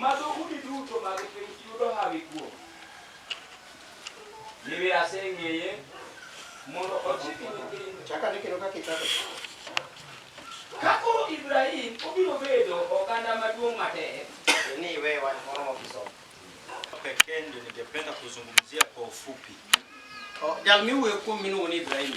Ma dhoudi duto mag piny yudo hawi kuome. Nimir aseng'eye mondo ochiki nyithindo. Chak ane kendo kaka ichako. Ka koro Ibrahim obiro bedo oganda maduong' matek. Ni iwe wach moro ma kisomo. Pekee ndio ningependa kuzungumzia kwa ufupi. Jal miwuoyo kuome miluongo ni Ibrahim.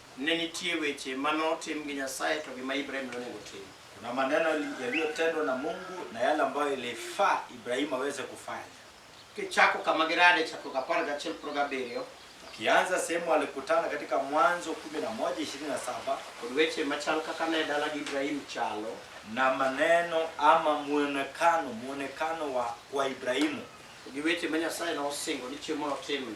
Ne nitie weche ma notim gi Nyasaye to gi ma Ibrahim nonego otim. Kuna maneno yaliyotendwa na Mungu na yale ambayo ilifaa Ibrahimu aweze kufanya. Kichako kama girade Chakruok apar gachiel kod gabiriyo Ukianza sehemu alikutana katika Mwanzo 11:27 kod weche machal kaka ne dalagi Ibrahim chalo, na maneno ama muonekano muonekano wa kwa Ibrahimu. to gi weche ma Nyasaye nosingo ni chieng' moro otimne.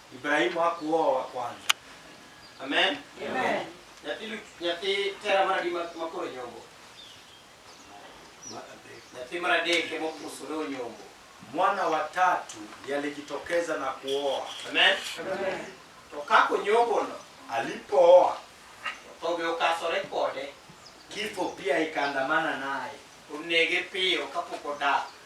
Ibrahimu hakuoa kwanza. Amen. Amen. Nyathi Lu- nyathi Tera mar adi ma ma koro nyombo. Nyathi mar adek ema opuso ne onyombo. Mwana wa tatu ndiye alijitokeza na kuoa. Amen. To kako nyombono Alipooa to be okasore kode kifo pia ikaandamana naye. onege piyo kapok odak.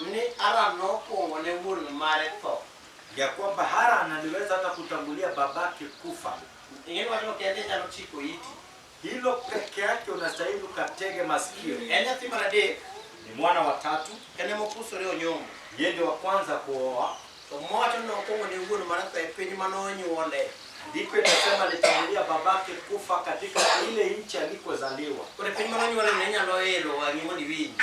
Ni Aran nokwongo ne wuon mare tho. Ya kwamba Haran aliweza hata kutangulia babake kufa. Ing'eni wachno kende inyalo chiko iti. Hilo peke yake unastahili ukatege masikio. En nyathi mar adek. Ni mwana wa tatu. En ema opusore onyombo. Yeye ndio wa kwanza kuoa. To mowacho ni okwongo ne wuon mare tho e piny ma nonyuole. Ndiko inasema alitangulia babake kufa katika ile nchi alikozaliwa. Koro e piny ma nonyuole ne inyalo elo wang'i mondo iwinji.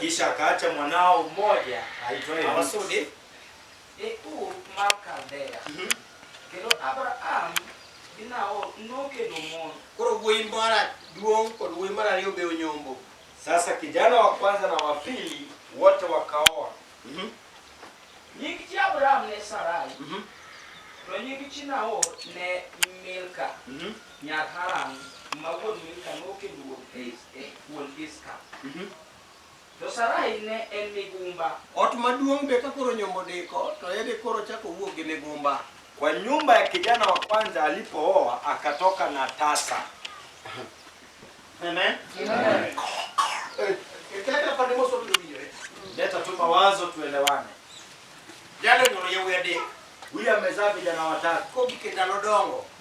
Kisha akaacha mwanao mmoja aitwaye Lutu. Abasude e ur mar Kaldea. Mhm. Kendo Abraham gi Nahor nokendo mon. Koro wuoyi mar aduong' kod wuoyi mar ariyo be onyombo. Sasa kijana wa kwanza na wa pili wote wakaoa. Mhm, Nying chi Abraham ne Sarai, mhm, to nying chi Nahor ne Milka. mhm. Nyar Haran ma wuon Milka nokendo wuod Ish, eh, wuon Iska. Mhm. To Sarai ne en migumba. Ot maduong' be ka koro nyombo diko to ede koro chako wuok gi migumba. Kwa nyumba ya kijana wa kwanza alipooa akatoka na tasa. Amen. Ekenda pande moso biro winjore. Leta tu mawazo tuelewane. Jalo nyoro yawuoyi adek. Huyu amezaa vijana watatu. Kogi kendalo dongo.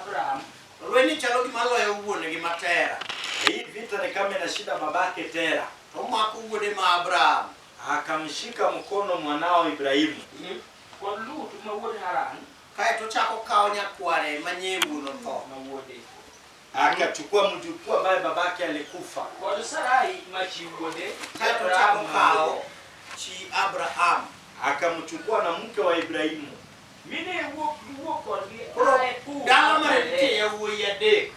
Abraham, lwenyni chalo gima loyo wuon-gi ma Tera. Na hii vita ni kama inashinda babake Tera. Omako wuode ma Abraham. Akamshika mkono mwanao Ibrahimu. Mhm. Kod Lut ma wuod Haran. Kae to ochako okawo nyakware ma nyee wuon otho. Ma wuode. Akachukua mjukuu ambaye babake alikufa. Kod Sarai ma chi wuode. Kae to ochako okawo chi Abraham. Akamchukua na mke wa Ibrahimu. Mi ne iwuok iwuok kodgi Koro aa e thur dala mar mar nitie Ler. yawuoyi adek.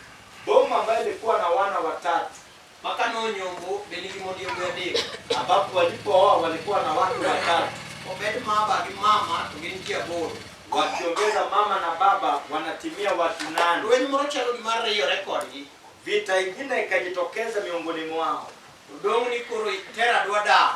Boma ambayo ilikuwa na wana watatu. Maka nonyombo be nigi mond yawuoyi adek. Ambapo walipooa walikuwa na wake watatu. Obed maba gi mama to gin ji aboro. Wakiongeza mama na baba wanatimia watu nane. Lweny moro chalo gima riyore kodgi. Vita ingine ikajitokeza miongoni mwao. Odong' ni koro itera dwa dar.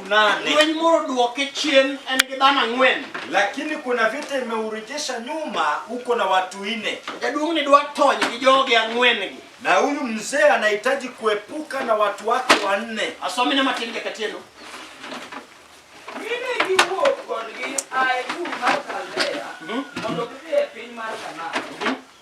nane Lweny moro odwoke chien en gi dhano ang'wen. lakini kuna vita imeurejesha nyuma uko na watu ine Jaduong' ni dwa tony gi joge ang'wen-gi. na huyu mzee anahitaji kuepuka na watu wake wanne Asomine matin jakatieno. Mine giwuok kodgi a e Ur mar Kaldea mondo gidhi e piny mar Kanaan.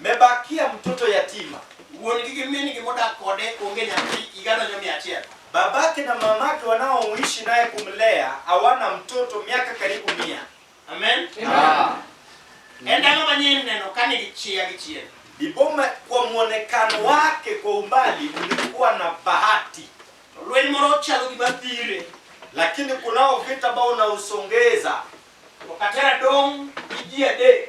Mmebakia mtoto yatima. Wuon-gi gi min-gi modak kode onge nyathi, higa donjo mia achiel. Babake na mamake wanaoishi naye kumlea hawana mtoto miaka karibu mia. Amen. Amen. E ndalo ma nyiri neno kane gichia gi chien. Biboma kwa mwonekano wake kwa umbali ulikuwa na bahati. Lweny moro chalo gima thire. Lakini kunao vita ambao unausongeza. Wakatera dong' gi ji adek.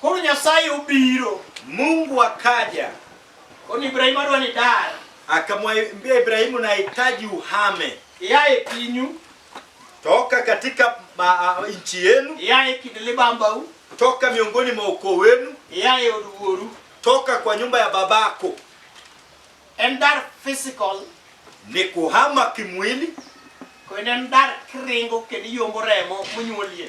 Koro Nyasaye obiro. Mungu akaja. Koro Ibrahimu adwa ni dar. Akamwambia Ibrahimu, nahitaji uhame. Yaye pinyu. Toka katika ma, uh, nchi yenu. Yaye kind libambau. Toka miongoni mwa ukoo wenu. Yaye od wuoru. Toka kwa nyumba ya babako. En dar physical. Ni kuhama kimwili. Kendo en dar kiringo kendo iyombo remo monyuolie.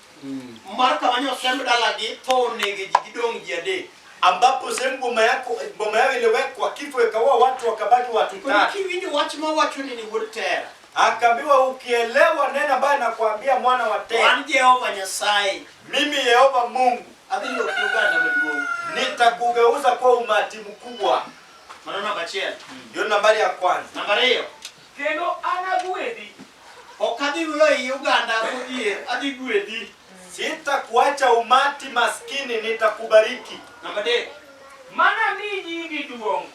mm. mar kama ni osemb dalagi tho onege ji gidong' ji adek ambapo sehemu boma yako boma yao iliwekwa kifo ikaua watu wakabaki watu Koro tatu kiwinjo wach ma wacho ni ni wuod tera akaambiwa ukielewa neno ambayo nakwambia mwana wa tena wan jehova nyasaye mimi yehova mungu adhi loki oganda maduong' nitakugeuza kuwa umati mkubwa mano namba achiel ndio nambari ya kwanza namba ariyo Kendo anaguedhi. Ok adhi weyo ei oganda modhier, adhi guedhi. Sitakuacha umati maskini, nitakubariki. Namba adek. Manami nyingi duong'.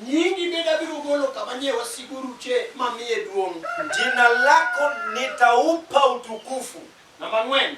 Nyingi bende abiro golo kama nie wasigu oruche mamiye duong'. Jina lako nitaupa utukufu. Namba ang'wen.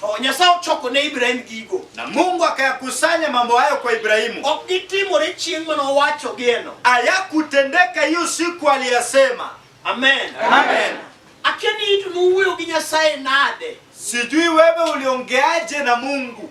To Nyasaye ochoko ne Ibrahim gigo. Na Mungu akayakusanya mambo hayo kwa Ibrahimu. Ok gitimore chieng' mane owacho geno. Hayakutendeka hiyo siku aliyasema. Amen. Amen. Akia ni itu nuwuoyo gi Nyasaye nade. Sijui wewe uliongeaje na Mungu.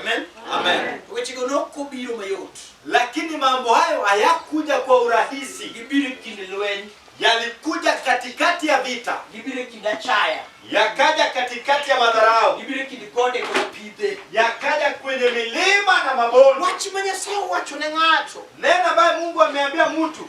Amen. Amen. Wechego nok obiro mayot. Lakini mambo hayo hayakuja kwa urahisi, Gibiro e kind lweny, yalikuja katikati ya vita, gibiro e kind achaya, yakaja katikati ya madharau, gibiro e kind gode kod pidhe. yakaja kwenye milima na mabonde. Wach ma Nyasaye owacho ne ng'ato Neno ambaye Mungu ameambia mtu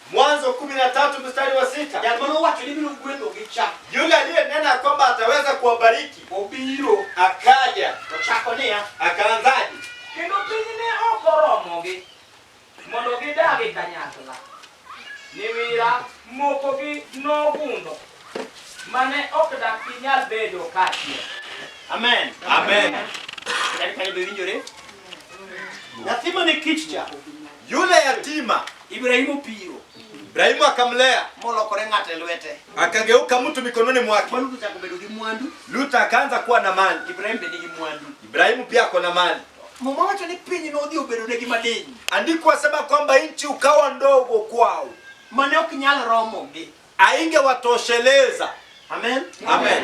Mwanzo 13 mstari wa sita. Jal mane owacho ni biro gwedhogi cha Yule aliyenena kwamba ataweza kuwabariki obiro akaja, ochako niya akaanzaje? kendo piny ne ok oromogi mondo gidag e kanyakla niwira mokogi nogundho mane ok dak ginyal bedo kaachiel Amen. Amen. Yaani kane be winjore. Nyathi mane kich cha Yule yatima Ibrahimu opiro Ibrahimu akamlea molokore ng'ato e lwete. akageuka mtu mikononi mwake. Mwandu chako bedo gi mwandu. Lutu akaanza kuwa na mali. Ibrahimu be nigi mwandu. Ibrahimu pia ako na mali. Muma wacho ni piny nodhi obedonegi madiny. Andiko asema kwamba nchi ukawa ndogo kwao, mane ok nyal romogi, aingewatosheleza. Amen, amen.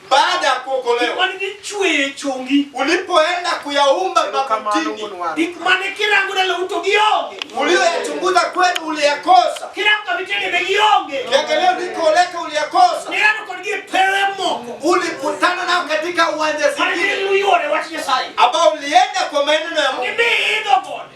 baada ya kuokolewa, mane dhi chweyo e chongi, ulipoenda kuyaumba mabutini, gik mane kirango dalawu to gionge, uliyoyachunguza kwenu uliyakosa, kirango kama vitenge ne gionge, kiangalia ulikoleka uliyakosa, nirano kod gi pewe moko, ulikutana nao katika uwanja mane zingine dhi luyore wach Nyasaye, ambao ulienda kwa maneno ya Mungu, gidhi idho gode,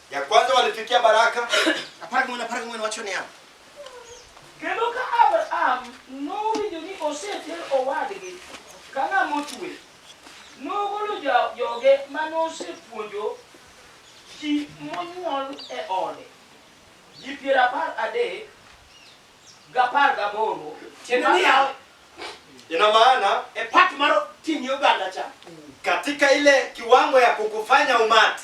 Ya kwanza walifikia baraka. Apara kumwena apara kumwena wacho ni hapo. Kendo ka Abraham nowinjo ni oseter owadgi ka ng'ama otwe, nogolo ja- joge ma nosepuonjo ji monyuol e ode, ji piero apar adek gapar gaboro. Tiende niya, Ina maana e part mar ting'i oganda cha. katika ile kiwango ya kukufanya umati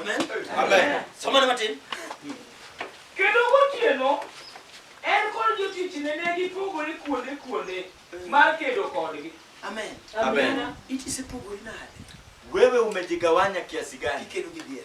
Amen. Amen. Somane matin. Kendo gotieno, en kod jotichne ne gipogore kuonde kuonde mar kedo kodgi. Amen. Amen. It isepogori nade? Wewe umejigawanya kiasi gani? Kikedo gi dier.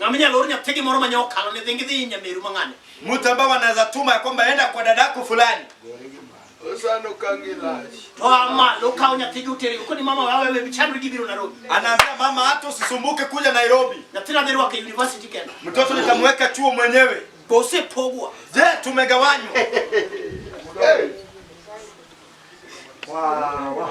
Ng'ama inyalo or nyathigi moro manya okalo ne dhi ngidhi nyameru mang'ane. Mtu ambao wanaweza tuma ya kwamba enda kwa dadako fulani. Osano kangi lash. To ama lo kawo nyathigi utere uko ni mama wawe wewe chandri gibiro Nairobi. Anaambia mama hata usisumbuke kuja Nairobi. Nyathina dhi rwake university kenda. Mtoto nitamweka chuo mwenyewe. Bose pogwa. Je, tumegawanywa? Hey. Wow, wow.